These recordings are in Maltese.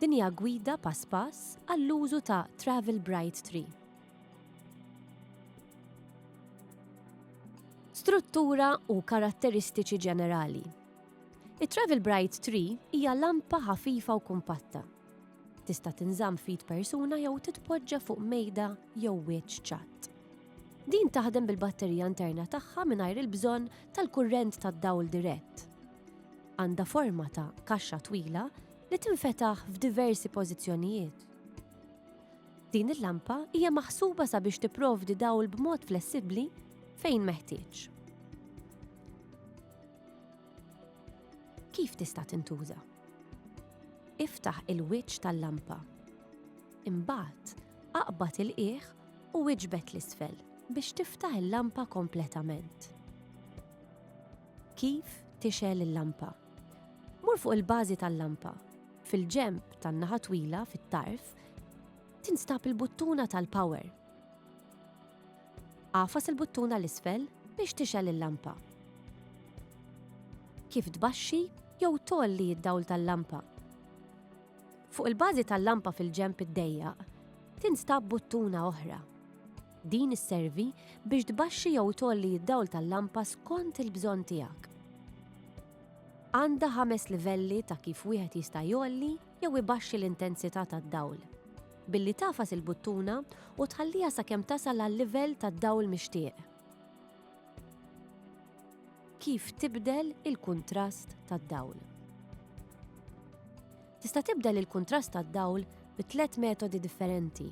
Din hija gwida pass pass għall-użu ta' Travel Bright Tree. Struttura u karatteristiċi ġenerali. It-Travel Bright Tree hija lampa ħafifa u kumpatta. Tista' tinżamm fid persuna jew titpoġġa fuq mejda jew wiċċ ċatt. Din taħdem bil-batterija interna tagħha mingħajr il-bżonn tal-kurrent tad-dawl dirett. Għandha forma ta' kaxxa twila li tinfetaħ f'diversi pożizzjonijiet. Din il-lampa hija maħsuba sabiex tipprovdi dawl b'mod flessibbli fejn meħtieġ. Kif tista' tintuża? Iftaħ il-wiċċ tal-lampa. Imbagħad, aqbad il-qiegħ u iġbed 'l isfel biex tiftaħ il-lampa kompletament. Kif tixgħel il-lampa? Mur fuq il-bażi tal-lampa. Fil-ġenb tan-naħa twila fit-tarf tinstab il-buttuna tal-power. Għafas il-buttuna l-isfel biex tixgħel il-lampa. Kif tbaxxi jew tolli id-dawl tal-lampa? Fuq il-bażi tal-lampa fil-ġenb iddejjaq tinstab buttuna oħra. Din isservi biex tbaxxi jew tgħolli d-dawl tal-lampa skont il-bżonn tiegħek. Għandha ħames livelli ta' kif wieħed jista' jgħolli jew ibaxxi l-intensità tad-dawl billi tagħfas il-buttuna u tħalliha sakemm tasal għal-livell tad-dawl mixtieq. Kif tibdel il-kuntrast tad-dawl? Tista' tibdel il-kuntrast tad-dawl bi tliet metodi differenti.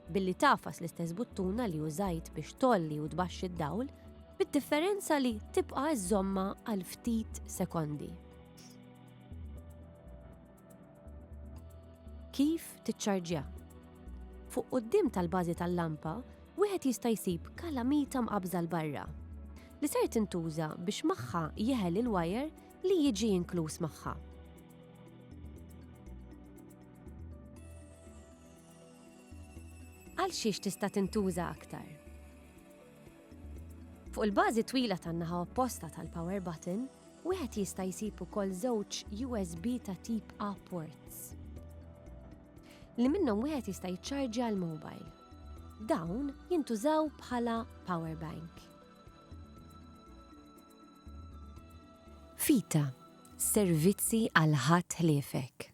Billi tafas l-istess buttuna li użajt biex tolli u tbaxxi d-dawl, bid-differenza li tibqa' żomma għal ftit sekondi. Kif tiċċarġja? Fuq quddiem tal-bażi tal-lampa, wieħed jista' jsib kalamita mqabbża 'l barra, li ser tintuża biex magħha jeħel il-wajer li jiġi inkluż magħha. Għal xiex tista' tintuża aktar? Fuq il-bażi twila tan-naħa opposta tal-power button, wieħed jista' jsib ukoll żewġ USB ta' tip A ports li minnhom wieħed jista' jiċċarġja l-mobile. Dawn jintużaw bħala power bank. Fita, servizzi għal ħadd ħliefek.